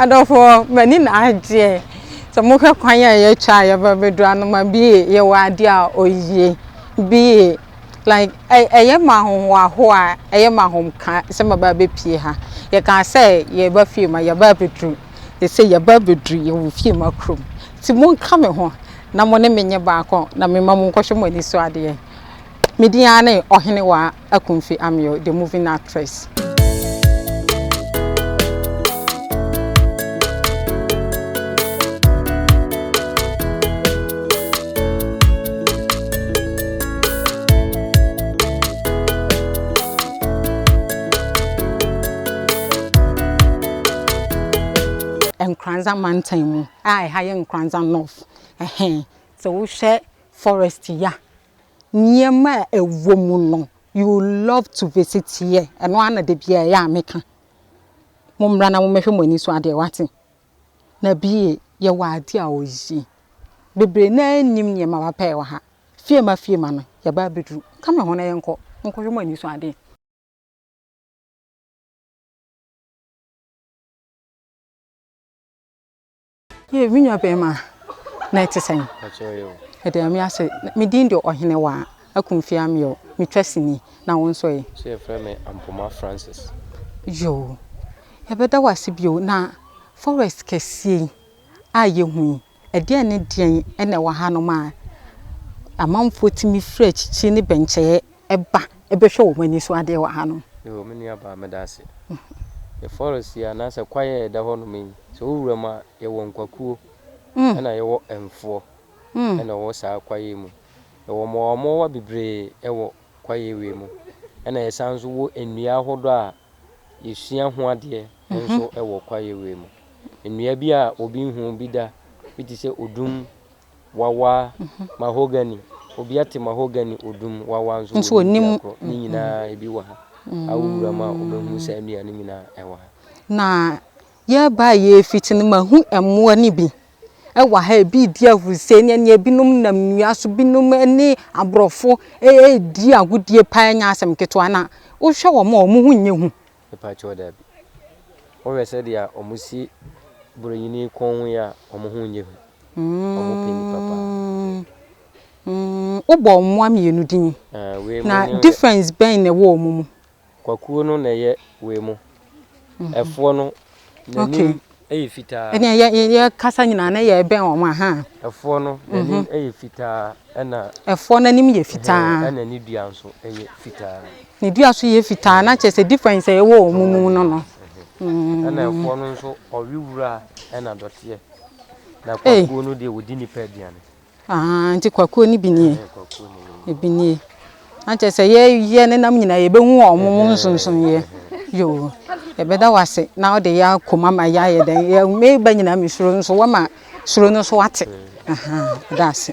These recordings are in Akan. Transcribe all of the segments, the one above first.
adɔfoɔ m'ani na agyeɛ sɛ mohwɛ kwan a yɛatwa a yɛba bɛdura no ma bie yɛwɔ adeɛ a ɔyie bie like ɛyɛ ma ahohoaho a ɛyɛ ma ahomka sɛ maba abɛpie ha yɛkaa sɛ yɛba fie ma yɛba abɛduru ɛsɛ yɛba abɛduru yɛwɔ fie ma kurom nti monka me ho na mo ne menyɛ baako na mema mo nkɔhwɛ mo ani so adeɛ medin ara ne ɔhene wa akumfi ameo the moving actress Nkoranza mantam mu a ɛha yɛ Nkoranza North. Ɛhɛn, sɛ wohwɛ forest yi a nneɛma a ɛwɔ mu no, you will love to visit here. Ɛno ara na da biara ɛyɛ a meka. Mommra na mommɛhwɛ mo ani so adeɛ, woate? Na bie, yɛwɔ adeɛ a ɔye. Bebree no ara nnim nneɛma papa a ɛwɔ ha. Fiema Fiema no, yɛaba abɛduru. Ka me ho na yɛnkɔ. Monkɔhwɛ mo ani so adeɛ. Yei, me nuabarima, na ɛte sɛn? Ɛda Nyame ase, me din de Ɔhenewaa Akumfie Ameo, metwa sini, na wo nso ɛ? So yɛfrɛ me Ampoma Francis? Yoo, yɛbɛda wo ase bio, na forest kɛseɛ yi a yɛhu yi, ɛdeɛn ne deɛn na ɛwɔ hanom a amanfoɔ tumi firi akyikyi ne bɛnkyɛeɛ ba bɛhwɛ wɔn ani so adeɛ wɔ hanom. Yoo, me nua baa, meda ase. Yɛ forest yi anaasɛ kwaeɛ a ɛda hɔnom yi, sɛ wo wura mu a, yɛwɔ nkwakuo, ɛna yɛwɔ mfoɔ, ɛna wɔwɔ saa kwaeɛ yi mu. Yɛwɔ mmoawammoawa bebree wɔ kwaeɛ wei mu, ɛna yɛsan nso wɔ nnua ahodoɔ a yɛsua ho adeɛ nso wɔ kwaeɛ wei mu. Nnua bi a obi nhuu bi da, bi te sɛ odum, Wawa, mahogany, obi ate mahogany, odum, wawa nso wɔ ne dua korɔ. Ne nyinaa ebi wɔ ha. Awo wuram a wobɛhunu saa nnua no nyinaa ɛwɔ ha. Na yɛreba a yɛrefiti no mahu mmoa no bi ɛwɔ ha. Ebi redi ahurusɛe ne ɛnneɛ, binom nam nnua so, binom ne aborɔfo redi agodie paa nyɛ asɛm ketewa. Na wohwɛ wɔn a, wɔn ho nyɛ hu. Mepakyɛw dabi. Wohwɛ sɛdeɛ wɔsi borɔnyini kɔn ho yi a, wɔn ho nyɛ hu. Wɔpɛ nnipa paa. Mm, wobɔɔ mmoa mmienu din. Ɛɛ, wei mu Na ne yɛ- difference bɛn na ɛwɔ wɔn mu? Kwakuo no na ɛyɛ wei mu. Ɛfoɔ no N'anim yɛ fitaa. Ɛnna yɛ yɛ yɛkasa nyinaa na yɛrebɛn wɔn a ha. Ɛfoɔ no n'anim mhm. yɛ fitaa ɛna. Ɛfoɔ n'anim yɛ fitaa. Ɛna ne dua nso yɛ fitaa. Ne dua nso yɛ fitaa na kyerɛ sɛ difference ɛwɔ wɔn mu no no. Mhm. Mm. Ɛna ɛfoɔ no nso ɔwe wura ɛna dɔteɛ. Na kwakuo no deɛ wɔdi nipa aduane. Ahaa nti kwakuo no bi nie. Ɛɛ kwakuo no bi nie. Ebi nie. Ankyɛ sɛ yɛ yɛ ne nam nyinaa yɛ bɛ hu wɔn mo nsonson yɛ. Yoo. Yɛ bɛ da wase na ɔde yɛ akom ama yɛ ayɛ dɛn yɛ me ba nyinaa me suro nso wɔ ma suro no so ate. Ahaa da ase.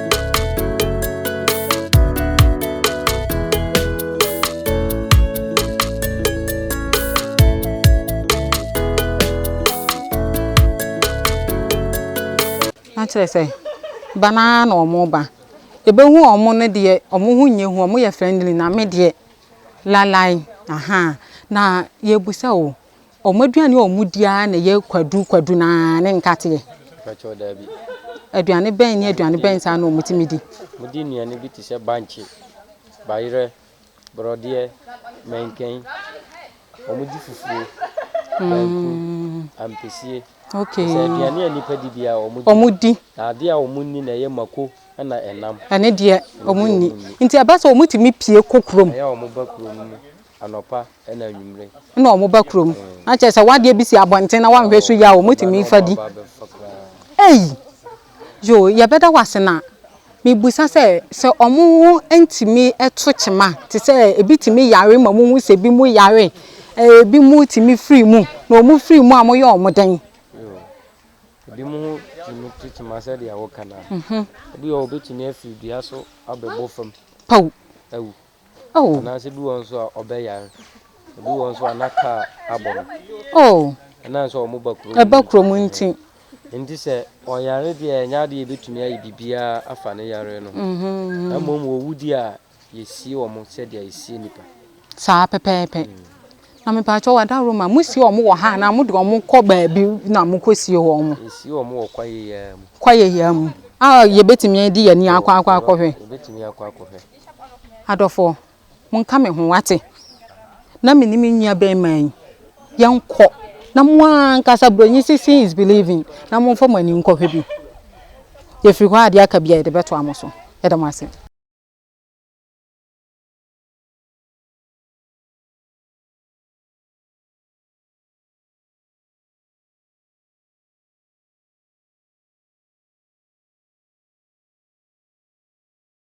na kyerɛ sɛ ba no ara na wɔn ba ɛbɛhu wɔn no deɛ wɔn ho nyɛ hu wɔn yɛ friendly na me deɛ lalai aha na yɛbusa o Wɔn aduane a wɔdi ara na ɛyɛ kwadu kwadu no ara ne nkateɛ. Mpakyɛw daabi. Aduane bɛn ne aduane bɛn saa na wɔtumi di? Wɔdi nnuane bi te sɛ bankye, bayerɛ, borɔdeɛ, mɛnkɛn. Wɔdi fufuo, banku, ampesie. Okay. Sɛ aduane a nnipa di bi a wɔdi. Wɔdi. Na adeɛ a wɔnni na ɛyɛ mako ɛna ɛnam. Ɛne deɛ wɔnni. Nti ɛba sɛ wɔtumi pie kɔ kurom. Ɛyɛ a wɔba kurom. Anɔpa na anwummere. Na wɔba kurom. Na kyerɛ sɛ w'adeɛ bi si abɔnten na wanhwɛ so yie a wɔtumi fa di. Ei! Yo, yɛbɛda wo ase na mebisa sɛ, sɛ wɔn ntumi to kyema te sɛ ebi tumi yare ma wohu sɛ ebi mu yare, ebi mu tumi firi mu, na wɔn firi mu a moyɛ wɔn dɛn? Yo, ebi mu ho tumi to kyema sɛdeɛ woka no a. Ebi wɔ hɔ a wɔbɛtumi afiri dua so abɛbɔ fam. Pawu. Awu. Oh. Anaasɛ bi wɔ nso a ɔbɛyare. Ebi wɔ nso a na kaa abɔ no. Oh. Ɛnam sɛ wɔn ba kurom. Ɛba kurom nti. Nti sɛ ɔyare deɛ ɛnyɛ adeɛ yɛbɛtumi ayɛ biribiara afa ne yare no ho. Mm-hmm. Na mmom wɔwu deɛ a yɛsie wɔn sɛdeɛ yɛsie nipa. Saa pɛpɛɛpɛ. Mm. Na mepaakyɛ wɔ adaworo ma mosie wɔn wɔ ha anaa mode wɔn kɔ baabi na mokɔsie wɔn. Yɛsie wɔn wɔ kwaeɛ yɛa mu. Kwaeɛ yɛa mu. A yɛbɛtumi adi yɛn ni akɔ akɔ akɔhwɛ. Yɛbɛtumi akɔ akɔhwɛ. Adɔfoɔ, monka me ho, wate? Na me ne me nua bɛɛma yi, yɛnkɔ, na mo ara ankasa Buronyi se seeing is believing, na momfa mo ani nkɔhwɛ bi. Yɛfiri hɔ a, deɛ aka biara yɛde bɛtoa mo so. Yɛda mo ase.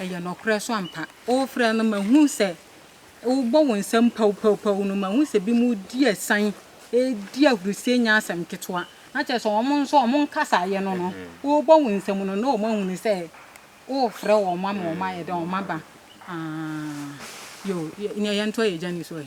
Ɛyɛ nɔkorɛ so ampa? Wofrɛ no mahu sɛ wobɔ wo nsam pawpawpaw no mahu sɛ binom redi asian redi ahurusie nyɛ asɛm ketewa na kyerɛ sɛ wɔn nso wɔn nkasaeɛ no no wobɔ wo nsam no na wɔn ahunu sɛ wofrɛ wɔn ama wɔn ayɛ dɛ wɔn aba ah yo nea yɛn to yɛ gya ni so ɛ.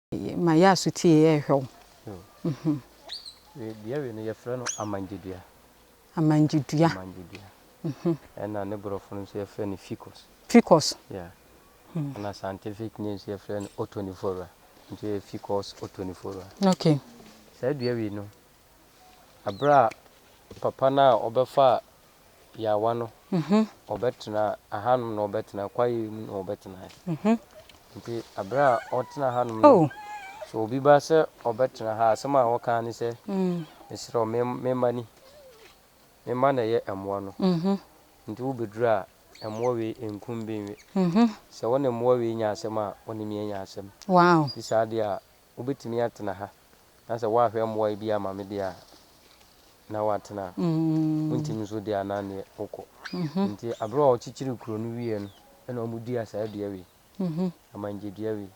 Ma yɛ asotie yɛ hwɛ wo. Wei deɛ wei no yɛfrɛ no amangyedua. Amangyedua. Amangyedua. Ɛna ne borɔfo no nso yɛfrɛ no ficus. Ficus. Yeah. Ɛna scientific name nso yɛfrɛ no otonifora. Nti yɛ ficus otonifora. Okay. Saa dua wei no Bere a papa no a ɔbɛfaa yaawa no, ɔbɛtenaa ahanom na ɔbɛtenaa kwaeɛ mu na ɔbɛtenaeɛ. Nti bere a ɔtena hanom no, oh. sɛ obi ba sɛ ɔbɛtena ha asɛm a wɔka ne sɛ mesrɛ wo me mma ni me mma na ɛyɛ mmoa no nti wobɛduru a mmoa wei nkum benwe sɛ wo ne mmoa wei nya asɛm a wo ne me anya asɛm nti saa deɛ a wobɛtumi atena ha, na sɛ woanhwɛ mmoa yi bi amma me deɛ a, na woatena ha. Wontumi nso deɛ a, na neɛ wokɔ. Nti aberɛ a wɔkyekyeree kuro no wieɛ no, ɛna wɔdua saa dua wei, amangye dua wei.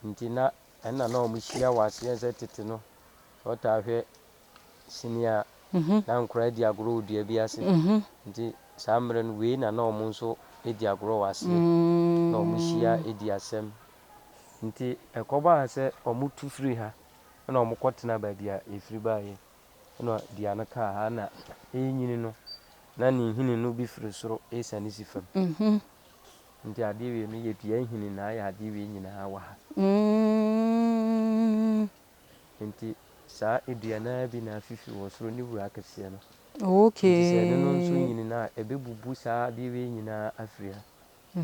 Nti na ɛna na wɔhyia wɔ aseɛ sɛ tete no, sɛ wotaa hwɛ sini a, na nkwadaa di agorɔ wɔ dua bi ase. Nti saa mmerɛ no, wei na na wɔn nso di agorɔ wɔ aseɛ, na wɔhyia di asɛm. Nti ɛkɔbaa sɛ wɔtu firii ha, ɛnna wɔkɔtenaa baabi a yɛfiri baeɛ, ɛnna dua no kaa ha, na ɛrenyini no, na ne nhini no bi firi soro resiane si fam. Nti adeɛ wei no yɛ dua nhini na ayɛ adeɛ wei nyinaa wɔ ha. Enti saa dua no ara bi na afifi wɔ soro, ne wura kɛseɛ no. Enti sɛ ɛno no nso nyini no a, ɛbɛbubu saa adeɛ wei nyina ara afiri ha,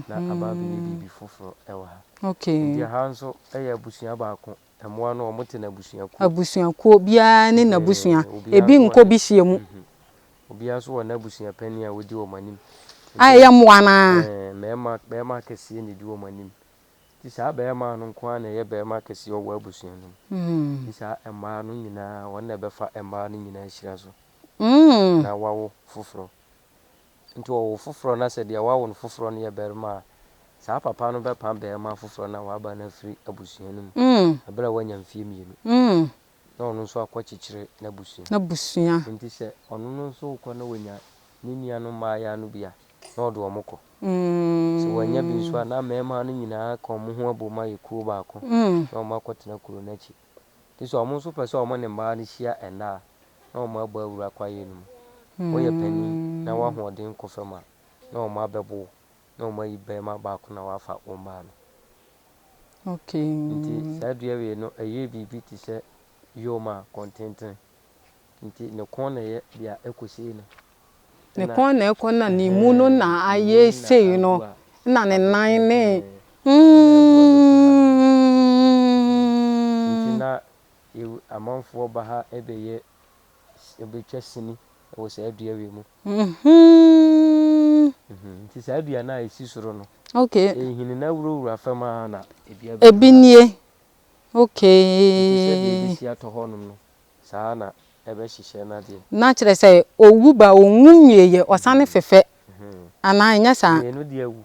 na aba abɛyɛ biribi foforɔ wɔ ha. Enti ɛha nso yɛ abusua baako. Mmoa no, wɔte no abusuakuo. Abusuakuo, obiara ne n'abusua. Ebi nkɔ bi hyia mu. Obiara nso wɔ n'abusua panin a ɔdi wɔn anim. A ɛyɛ mmoa no ara. Ɛɛ, mmarima, barima kɛseɛ na ɛdi wɔn anim. Nti saa bɛɛmaa no nkoaa na ɛyɛ bɛɛmaa kɛseɛ wɔ w'abusua no mu. Nti saa mmaa no nyinaa wɔn na ɛbɛfa mmaa no nyinaa ahyira so na w'awo foforɔ. Nti wɔwo foforɔ na sɛ deɛ w'awo no foforɔ no yɛ bɛɛmaa a, saa papa no bɛpa bɛɛmaa foforɔ no a w'aba no afiri abusua no mu ɛberɛ a w'anya mfeɛ mmienu. na ɔno nso akɔkyekyere n'abusua. N'abusua. Enti sɛ ɔno no nso rekɔ na wanya ne nuanom mmaayaa no bi a, na ɔde wɔn kɔ. Sɛ wannya bi nso a, na mmarima no nyinaa ka wɔn ho abom ayɛ kuo baako na wɔakɔtena kuro no akyi. Enti sɛ wɔn nso pɛ sɛ wɔne mmaa no hyia nna a, na wɔabɔ awura kwaeɛ no mu. Woyɛ panin na w'ahoɔden kɔ fam a, na wɔabɛbo wo na wɔn ayi barima baako na wɔafa wɔn maa no. Okay. Nti saa dua wei no ɛyɛ biribi te sɛ yom a kɔntenten. Nti ne kɔn na ɛyɛ deɛ ɛkɔ sei no. Ne kɔn na ɛkɔ na ne mu no na ayɛ sei no na ne nan ne hmm. Nti na amanfoɔ ba ha bɛyɛ Yɛbɛtwa sini wɔ saa dua wei mu. Nti saa dua no a ɛsi soro no, ɛhini na wurawura fam ara na dua bi. Ebi nie. Nti sɛdeɛ ɛbɛsi atɔ hɔnom no, saa ara na ɛbɛhyehyɛ no adeɛ. Na kyerɛ sɛ, ɔwu ba, ɔnwu nwieeɛ, ɔsane fefɛ. Anaa ɛnyɛ saa? Mmienu deɛ awu.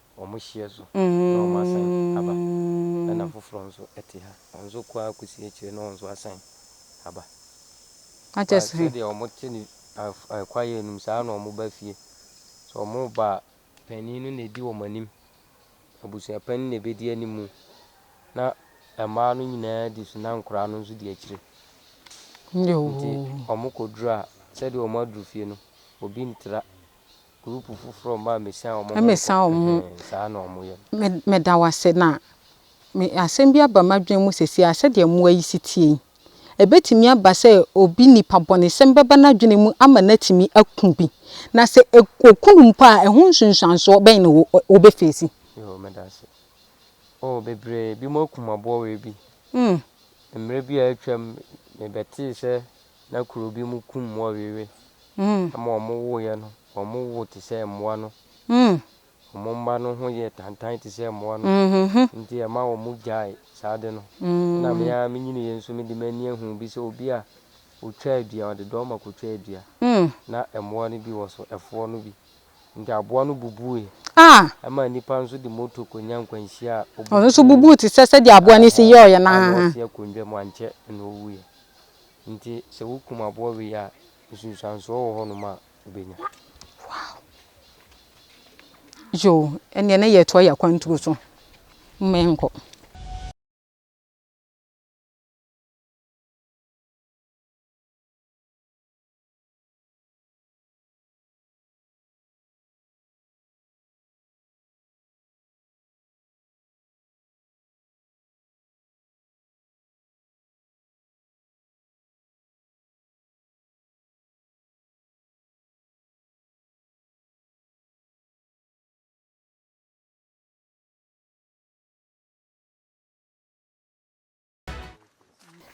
wɔn hyeɛ so na wɔn asan aba ɛna foforɔ nso te ha wɔn nso kɔ ara kɔsi akyire na wɔn nso asan aba ba sɛdeɛ wɔn te ne kwaeɛ anim saa na wɔn ba fie sɛ wɔn reba a panin no na ɛdi wɔn anim abusua panin na ɛbɛdi anim na mmaa no nyinaa di so na nkoraa no nso di akyire nti wɔn kɔduru a sɛdeɛ wɔn aduru fie no obi ntra Mesa wɔn ho. Meda wo ase. Na me, asɛm bi aba m'adwene mu seesei a, sɛdeɛ mmoa yi si teɛ yi, ɛbɛtumi aba sɛ obi nipabɔnesɛm bɛba n'adwene mu ama no atumi aku bi. Na sɛ ɔku no mpo a, ɛho nsunsuansoɔ bɛn na ɔbɛfeesi? Yoo, meda ase. Oo, bebree. Ebinom akum aboa wei bi. Mmerɛ bi a atwam, mebɛtee sɛ na kuro bi mu kum mmoa wei wei. ma wɔwowoeɛ no, wɔwowoo te sɛ mmoa no. Wɔn mma no ho yɛɛ tantan te sɛ mmoa no, enti ɛma wɔgyaee saa ade no. Ɛnna me ara menyiniiɛ nso mede m'ani ahunu bi sɛ obi a ɔtwaa dua, ɔde dɔɔma kɔtwaa dua, na mmoa no bi wɔ so, ɛfoɔ no bi. Enti aboa no bubuiɛ. Ɛmaa nnipa nso de moto kɔnya nkwanhyia a ɔbubu wɔn a na ɔte akonnwa mu ankyɛ na ɔwuiɛ. Enti sɛ wokum aboa wei a, nsunsuansoɔ wɔ hɔnom a wobɛnya. Wow! Yo, ɛnneɛ ne yɛtoa yɛ akwanturo so. Momma yɛnkɔ.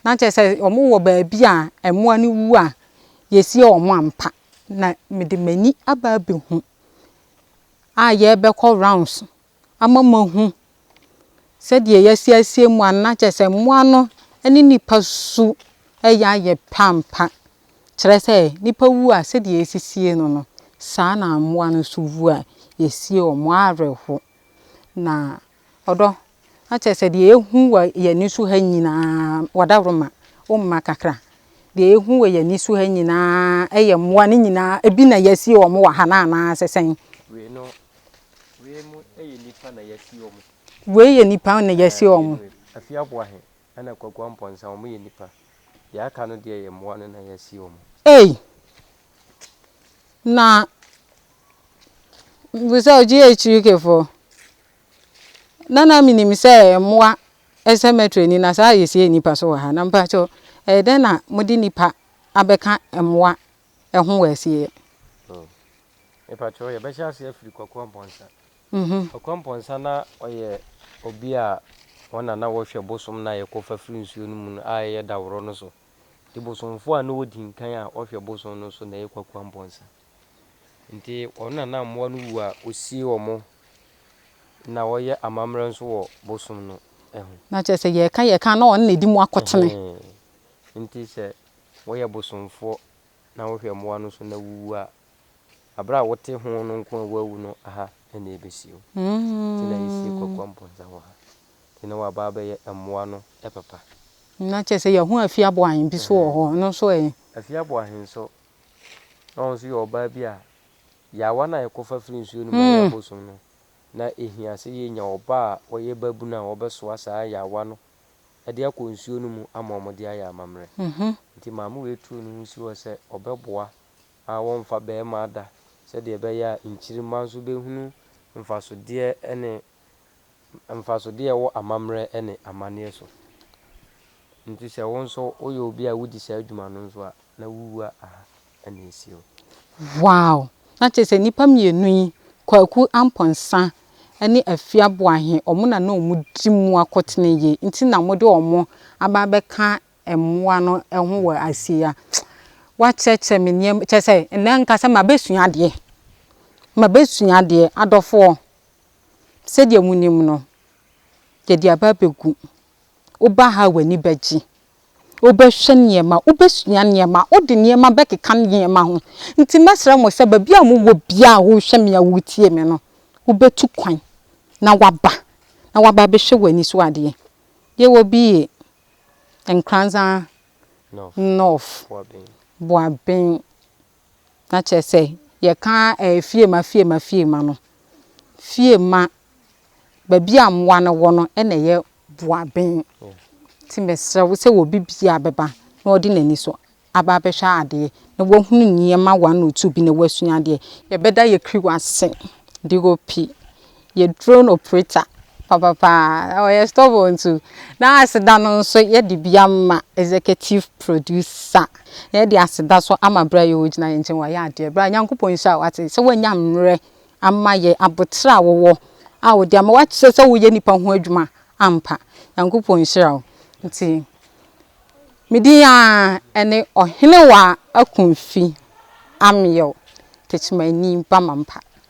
na kyerɛ sɛ wɔwɔ baabi a mmoa no wu a yɛsie wɔn ampa na mede m'ani aba abɛhu a yɛbɛkɔ rounds ama moahu sɛdeɛ yɛasiasie mo anaa kyerɛ sɛ mmoa no ne nnipa su yɛ ayɛ pɛ ampa, kyerɛ sɛ nnipa wu a sɛdeɛ yɛsisie no no, saa na mmoa no nso wu a yɛsie wɔn awerɛho. Na ɔdɔ, na kyerɛ sɛ deɛ yɛhu wɔ yɛn ani so ha nyinaa, wɔadaworoma, womma kakra, deɛ yɛhu wɔ yɛn ani so ha nyinaa yɛ mmoa no nyinaa, ebi na yɛasie wɔn wɔ ha no anaasɛ sɛn? Wei mu yɛ nnipa na yɛasi wɔn. Wei yɛ nnipa na yɛasi wɔn. Afie Aboahe ɛna Kwaguah Mpɔnsa wɔn yɛ nnipa. Deɛ aka no deɛ yɛ mmoa no na yɛasi wɔn. Ei! Na mepɛ sɛ ɔgye Akyirikefoɔ. Na na menim sɛ mmoa cemetery ni na saa a yɛsie nnipa so wɔ ha. Na mpakyɛw ɛyɛ dɛn na mode nnipa abɛka mmoa ɛho wɔ asieɛ. Oh. Mepakyɛw, yɛbɛhyɛ ase afiri Kwaku Ampɔnsa. Mhm. Kwaku Ampɔnsa na ɔyɛ obi a wɔn na na wɔhwɛ bosom no a yɛkɔfa firi nsuo no mu no a ɛyɛ Daworɔ no so. Nti bosomfoɔ a na ɔdi nkan a ɔhwɛ bosom no so na ɛyɛ Kwaku Ampɔnsa. Nti wɔn na na mmoa no wu a ɔsie wɔn na ɔyɛ amammerɛ nso wɔ bosom no ho. Na kyerɛ sɛ yɛka yɛka a na ɔno na ɛdi mu akotene. Ɛhee. Nti sɛ wɔyɛ bosomfoɔ na wohwɛ mmoa no so na wuwu a, aberɛ a wote ho no nko a woawu no ha na ɛbɛsi o. Nti na yɛsie Kwakoa Mpɔnsa wɔ ha. Nti na wɔaba abɛyɛ mmoa no papa. Na kyerɛ sɛ yɛahu Afie Aboahen bi nso wɔ hɔ, ɛno nso ɛ? Afie Aboahen nso, na ɔno nso yɛ ɔbaa bi a yaawa no a yɛkɔfa firi nsuo no mu a ɛyɛ abosom no, na ɛhia sɛ yɛnya ɔbaa a ɔyɛ babunu a ɔbɛsoa saa yaawa no de akɔ nsuo no mu ama wɔde ayɛ amammerɛ. Nti maame wei tuu ne ho si hɔ sɛ ɔbɛboa a wɔmfa barima ada sɛdeɛ ɛbɛyɛ a nkyirimma nso bɛhunu mfasodeɛ ne mfasodeɛ a ɛwɔ amammerɛ ne amanneɛ so. Nti sɛ wo nso woyɛ obi a wodi saa adwuma no nso a, na wowua aha. na esi hɔ. Wow! Na kyerɛ sɛ nnipa mmienu yi, Kwaku Amponsah ne Afia Boahe, wɔn na na wɔdi mu akotene yi nti na mode wɔn aba abɛka mmoa no ho wɔ ase yi a. Woakyerɛkyerɛ me nneɛma, kyerɛ sɛ nnɛ nka sɛ mabɛsua adeɛ, mabɛsua adeɛ. Adɔfoɔ, sɛdeɛ monim no, yɛde aba abɛgu. Woba ha a w'ani bɛgye. Wobɛhwɛ nneɛma, wobɛsua nneɛma, wode nneɛma bɛkeka nneɛma ho. Nti mɛsrɛ mo sɛ baabi a mowɔ biara a worehwɛ me a woretie me no, wobɛtu kwan na woaba, na woaba abɛhwɛ w'ani so adeɛ. Yɛwɔ bi yɛ Nkoranza North, Boaben. na kyerɛ sɛ yɛka fiema fiema fiema no, fiema, baabi a mmoa no wɔ no na ɛyɛ boaben. Nti mesrɛ wo sɛ wɔ bi biara bɛba na ɔde n'ani so aba abɛhwɛ adeɛ na wahunu nneɛma one or two bi na wasua adeɛ. Yɛbɛda yɛn kiri wɔ ase, DOP. yɛ drone operator papapaa na ɔyɛ stubborn nso na aseda no nso yɛde bi ama executive producer na yɛde aseda so ama berɛ a yɛwɔ gyina yɛn nkyɛn wayɛ adeɛ bra Nyankopɔn nhyira wo ate sɛ woanya mmerɛ ama yɛ aboterɛ a wowɔ a wode ama wakyerɛ sɛ woyɛ nipa ho adwuma ampa Nyankopɔn nhyira wo nti me din aa ɛne Ɔhenewaa Akumfi Ameo Techimanyi Bamampa.